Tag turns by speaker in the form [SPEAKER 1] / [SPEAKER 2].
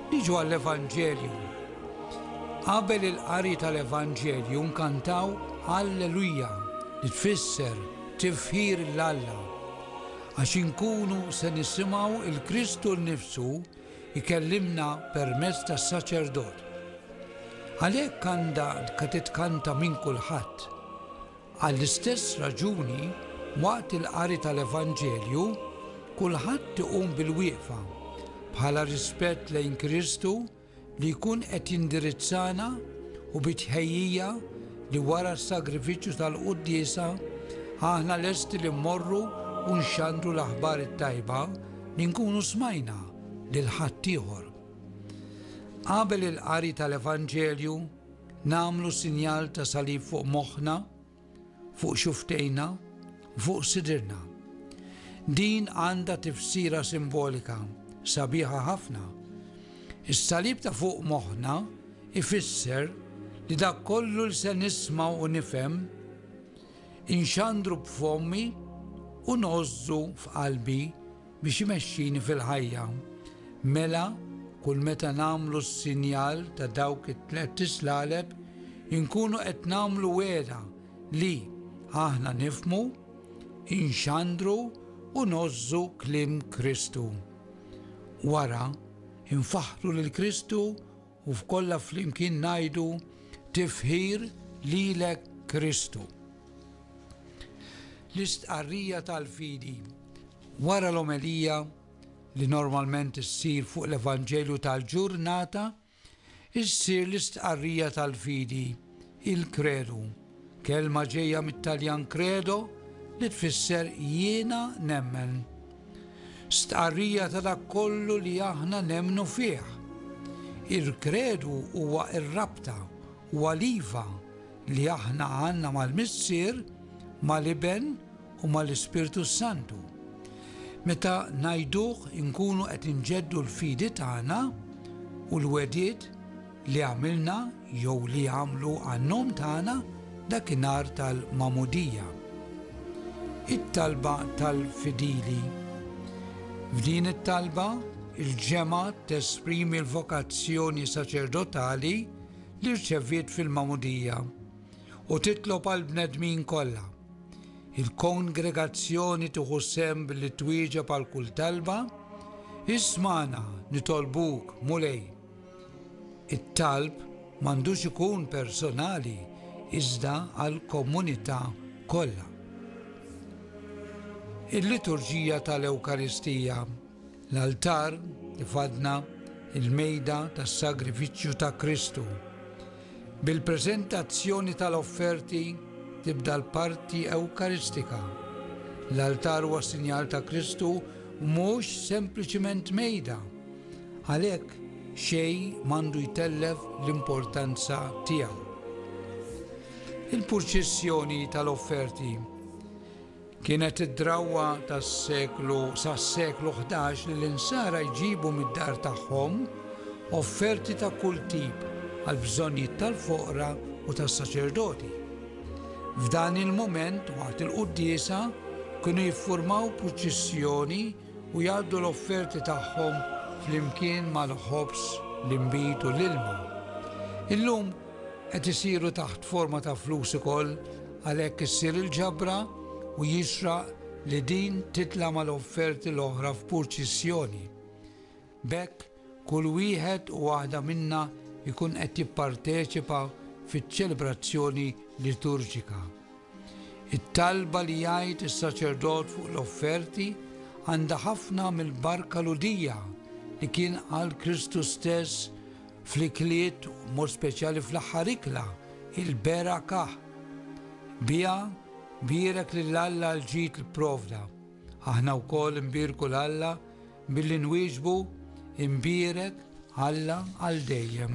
[SPEAKER 1] Niġu għall-Evanġelju. Qabel il-qari tal-Evanġelju nkantaw Alleluja li tfisser tifħir l-Alla. Għax inkunu se nisimgħu il-Kristu nnifsu ikellimna permezz tas-saċerdot. Għalhekk għandha titkanta minn kulħadd. Għall-istess raġuni, waqt il-qari tal-Evanġelju, kulħadd iqum bilwieqfa, bħala rispett lejn Kristu li jkun qed jindirizzana u bi tħejjija li wara s-sagrifiċċju tal-Quddiesa aħna lesti li mmorru u nxandru l-aħbar it-tajba li nkunu smajna lil ħaddieħor. Qabel il-qari tal-Evanġelju, nagħmlu sinjal ta' salib fuq moħħna, fuq xuftejna, fuq sidrna. Din għandha tifsira simbolika sabiħa ħafna. Is-salib ta' fuq moħħna ifisser li dak kollu li se nisma' u nifhem inxandru b'fommi u nożżu f'qalbi Biex imexxini fil-ħajja. Mela, kull meta nagħmlu s-sinjal ta' dawk it-tlett islaleb, inkunu qed nagħmlu wegħda li aħna nifhmu, inxandru u ngħożżu kliem Kristu. Wara, infaħħru lil Kristu U f'kollha flimkien ngħidu, Tifħir lilek Kristu. L-istqarrija tal-fidi. Wara l-omelija, li normalment issir fuq l-Evanġelju tal-ġurnata, issir l-istqarrija tal-fidi. Il-Kredu, kelma ġejja mit-Taljan credo li tfisser jiena nemmen. Stqarrija ta' dak kollu li aħna nemmnu fih. Il-Kredu huwa r-rabta, huwa l-iva li aħna għandna mal-Missier, mal-Iben u mal-Ispirtu s-Santu. Meta ngħiduh inkunu qed inġeddu l-fidi tagħna u l-wegħdiet li għamilna jew li għamlu għan-nom tagħna dakinhar tal-Magħmudija. It-talba tal-fidili. F'din it-talba, il-ġemgħa tesprimi l-vokazzjoni saċerdotali li rċeviet fil-Magħmudija u titlob għal bnedmin kollha. Il-kongregazzjoni tieħu sem billi twieġeb għal kull talba, ismana nitolbuk mulej It-talb m'għandux ikun personali iżda għall-komunità kollha. Il-liturġija tal-Ewkaristija, l-altar li fadna, il-mejda tas-sagrifiċċju ta' Kristu. Bil-preżentazzjoni tal-offerti tibda l-parti Ewkaristika. L-altar huwa sinjal ta' Kristu mhux sempliċiment mejda, Għalhekk xejn m'għandu jtellef l-importanza tiegħu. Il-purċissjoni tal-offerti kienet id-drawwa tas-seklu sas-seklu 11 li l-insara jġibu mid-dar tagħhom offerti ta' kull tip għall-bżonnijiet tal-foqra u tas-saċerdoti. F'dan il-mument waqt il-quddiesa kienu jiffurmaw purċissjoni u jgħaddu l-offerti tagħhom flimkien mal-ħobż, l-inbid u l-ilma. Illum qed isiru taħt forma ta' flus ukoll għalhekk issir il-ġabra u jixraq li din titla' mal-offerti l-oħra f'purċissjoni. B'hekk, kull wieħed u waħda minna jkun qed jipparteċipa fiċ-ċelebrazzjoni liturġika. It-talba li jgħid is-saċerdot fuq l-offerti għandha ħafna mill-barka Lhudija li kien qal Kristu stess fl-ikliet, mod speċjali fl-aħħar ikla, il-berakah. Biha bierek lil Alla l-ġid li pprovda. Aħna wkoll nbierku 'l Alla billi nwieġbu, Imbierek, Alla, għal dejjem.